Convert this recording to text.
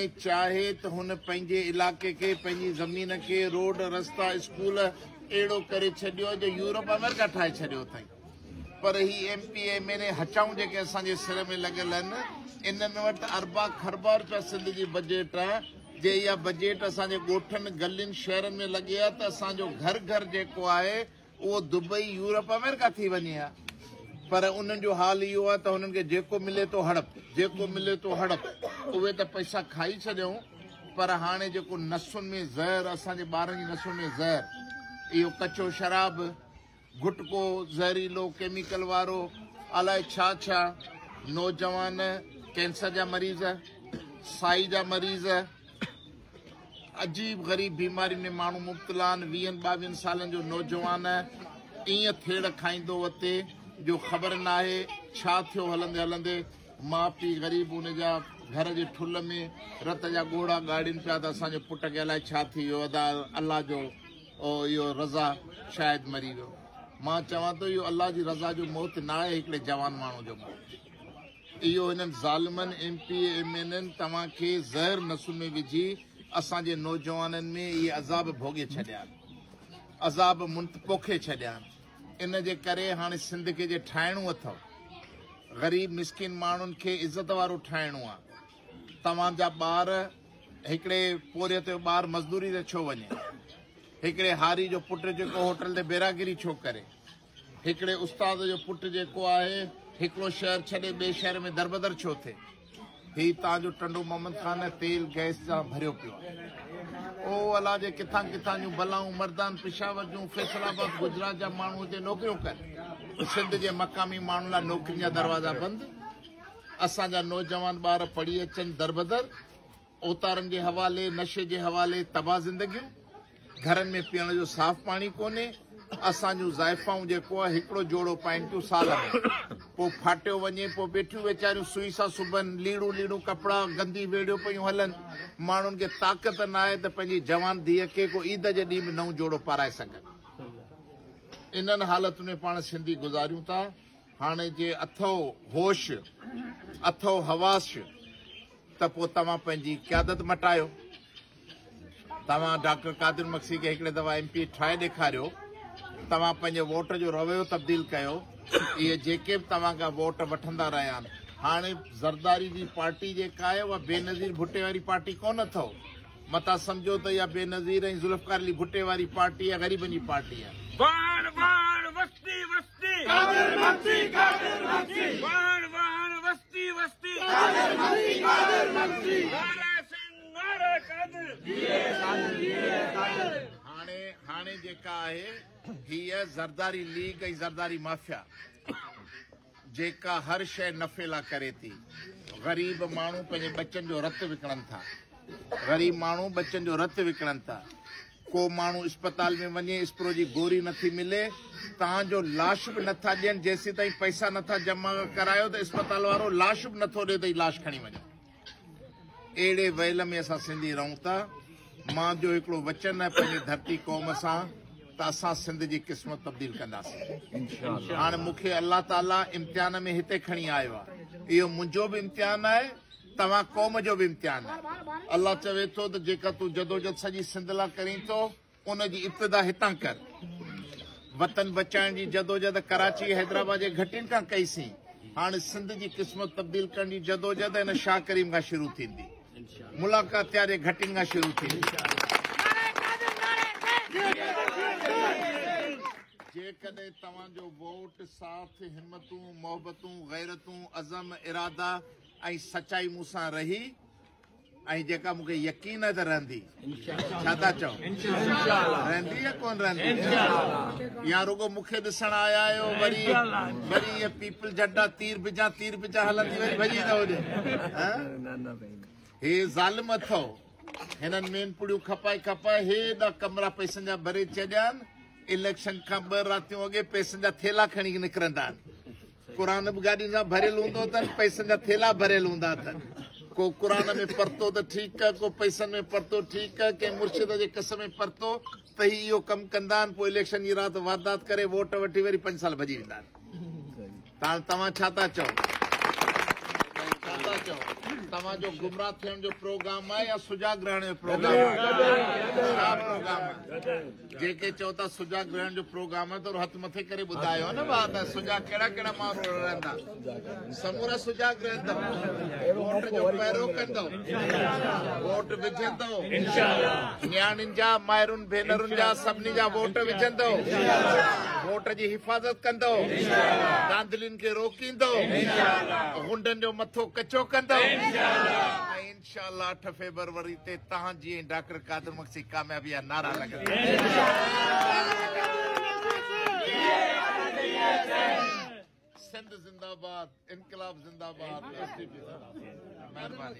چاهي ته هن پنهنجي علائقي کي، پنهنجي زمين کي، روڊ، رستا، اسڪول اهڙو ڪري ڇڏيو جو يورپ آمريڪا ٺاهي ڇڏيو اٿائين. پر هي M P M N A هچائون جيڪي اسان جي سر ۾ لڳل اهن انهن وٽ اربان کربان روپيا سنڌ جي بجيٽ آهي جي اها بجيٽ اسان جي ڳوٺن گلين شهرن ۾ لڳي ها ته اسان جو گهر گهر جيڪو آهي اهو دبئي، يورپ، آمريڪا ٿي وڃي ها پر انهن جو حال اهو آهي ته هنن کي جيڪو ملي ٿو هڙپ، جيڪو ملي ٿو هڙپ، اهي ته پئسا کائي ڇڏيائون پر هاڻي جيڪو نسن ۾ زهر، اسان جي ٻارن جي نسن ۾ زهر، اهو ڪچو شراب، گٽڪو، زهريلو، ڪيميڪل وارو، الائي ڇا ڇا، نوجوان ڪينسر جا مريض، سائي جا مريض. عجيب غريب بيمارين ۾ ماڻهو مبتلا آهن ويهن ٻاويهن سالن جو نوجوان ائين ٿيڙ کائيندو وتي جو خبر ناهي ڇا ٿيو هلندي هلندي ماء پيء غريب ان جا گهر جي ٺل ۾ رت جا ڳوڙها ڳاڙين پيا ته اسان جي پٽ کي الائي ڇا ٿي ويو ادا الله جو اهو رضا شايد مري ويو مان چوان ٿو اهو الله جي رضا جو موت ناهي هڪڙي جوان ماڻهو جو موت اهو هنن ظالمن M P A M N N توهان کي زهر نسون ۾ وجهي اسان جي نوجوانن ۾ اهي عذاب ڀوڳي ڇڏيا آهن عذاب منت پوکي ڇڏيا آهن ان جي ڪري هاڻي سنڌ کي جي ٺاهڻو اٿو غريب مسڪين ماڻهن کي عزت وارو ٺاهڻو آ توهان جا ٻار هڪڙي پورهيت جو ٻار مزدوري تي ڇو وڃي هڪڙي هاري جو پٽ جيڪو هوٽل تي بيراگيري ڇو ڪري هڪڙي استاد جو پٽ جيڪو آهي هڪڙو شهر ڇڏي ٻئي شهر ۾ دربدر ڇو ٿئي؟ هي تان جو ٽنڊو محمد خان تيل گئس سان ڀريو پيو آهي. او الا جي ڪٿان ڪٿان جون بلائون مردان پشاور جون فيصل آباد گجرات جا ماڻهو هتي نوڪريون ڪن. سنڌ جي مقامي ماڻهن لاء نوڪرين جا دروازا بند. اسان جا نوجوان ٻار پڙهي اچن دربدر. اوتارن جي حوالي، نشي جي حوالي تباهه زندگيون، گهرن ۾ پيئڻ جو صاف پاڻي ڪونهي، اسان جون زائفائون جيڪو هڪڙو جوڙو پائين ٿيون سال ۾ پوء ڦاٽيو وڃي، پوء بيٺيون ويچاريون سوئي سان سبن، ليڙون ليڙون ڪپڙا گندي ويڙهيو پيون هلن، ماڻهن کي طاقت نه آهي ته پنهنجي جوان ڌيء کي ڪو عيد جي ڏينهن به نئون جوڙو پارائي سگهن. انهن حالتن ۾ پاڻ سنڌي گذاريون ٿا. هاڻي جي اٿئو هوش اٿئو حواس ته پوء توهان پنهنجي قيادت مٽايو توهان ڊاڪٽر قادر مگسي کي هڪڙي دفعا ايم پي ٺاهي ڏيکاريو توهان پنهنجي ووٽ جو رويو تبديل ڪيو اهي جيڪي به توهان کان ووٽ وٺندا رهيا آهن هاڻي زرداري جي پارٽي جيڪا آهي اها بي نظير ڀٽي واري پارٽي ڪون اٿئو متا سمجھو ته يا بي نظير ۽ ذوالفقار علي بھٽي واري پارٽي يا غريبن جي پارٽي آهي قادر مگسي قادر مگسي واهڻ واهڻ وستي وستي قادر مگسي قادر مگسي نعره سنڌ نعره قادر جيئي قادر جيئي قادر هاڻي هاڻي جيڪا آهي هيء زرداري ليگ ۽ زرداري مافيا جيڪا هر شيء نفعي لا ڪري ٿي غريب ماڻهو پنهنجي ٻچن جو رت وڪڻن ٿا غريب ماڻهو ٻچن جو رت وڪڻن ٿا ڪو ماڻهو اسپتال ۾ وڃي اسپرو جي گوري نٿي ملي تان جو لاش به نٿا ڏين جيسيتائين پئسا نٿا جمع ڪرايو ته اسپتال وارو لاش به نٿو ڏي ته هي لاش کڻي وڃو اهڙي ويل ۾ اسان سنڌي رهون ٿا مان جو هڪڙو وچن آهي پنهنجي ڌرتي قوم سان ته اسان سنڌ جي قسمت تبديل ڪنداسين هاڻي مون کي الله تعاليٰ امتحان ۾ هتي کڻي آيو آهي اهو منهنجو به امتحان آهي توهان قوم جو به امتحان آهي الله چوي ٿو ته جيڪا تون جدوجد سڄي سنڌ لا ڪرين ٿو ان جي ابتدا هتان ڪر وطن بچائڻ جي جدوجد ڪراچي حيدرآباد جي گهٽين کان ڪئي سين هاڻ سنڌ جي قسمت تبديل ڪرڻ جي جدوجد هن شاهه ڪريم کان شروع ٿيندي ملاقات تيار جي گهٽين کان شروع ٿيندي جيڪڏهن توهان جو ووٽ ساٿ همتون محبتون غيرتون عزم ارادا ۽ سچائي مون سان رهي ۽ جيڪا مون کي يقين آهي ته رهندي ڇا ٿا چئو رهندي يا ڪون رهندي يا رڳو مون کي ڏسڻ آيا آهيو وري وري ائين پيپل جھٽا تير بجا تير بجا هلندي وري ڀڄي ٿا وڃن هي ظالم اٿو هنن مين پڙيون کپائي کپائي هيڏا ڪمرا پئسن جا ڀري چڏيا آهن اليڪشن کان ٻه راتيون اڳي پئسن جا ٿيلا کڻي نڪرندا آهن قرآن به گاڏين سان ڀريل هوندو اٿن پئسن جا ٿيلا ڀريل هوندا اٿن ڪو قرآن ۾ پرتو ته ٺيڪ ڪو پئسن ۾ پرتو ٺيڪ ڪنهن مرشد جي قص ۾ پرتو ته هي اهو ڪم ڪندا آهن پوء اليڪشن جي رات واردات ڪري ووٽ وٺي وري پنج سال ڀڄي ويندا آهن توهان ڇا ٿا چئو ڇا ٿا چئو توهان جو گمراهه ٿيڻ جو پروگرام آهي يا سجاڳ رهڻ جو پروگرام آهي جي ڪي چئو ٿا سجا گرهڻ جو پروگرام آهي ته هٿ مٿي ڪري ٻڌايو نه ڀاء ته سجا ڪهڙا ڪهڙا ماڻهو رڙندا سمورا سجا گرهندو ووٽ جو پهرو ڪندو ووٽ وجهندو نياڻين جا مائرن ڀينرن جا سڀني جا ووٽ وجهندو ووٽ جي حفاظت ڪندو دانڌلين کي روڪيندو غنڊن جو مٿو ڪچو ڪندو انشاءالله اٺ فيبروري تي تهان جي ۽ ڊاڪٽر قادر مگسي ڪاميابي جا نعرا لڳندا. سنڌ زنداباد انقلاب زنداباد مهرباني.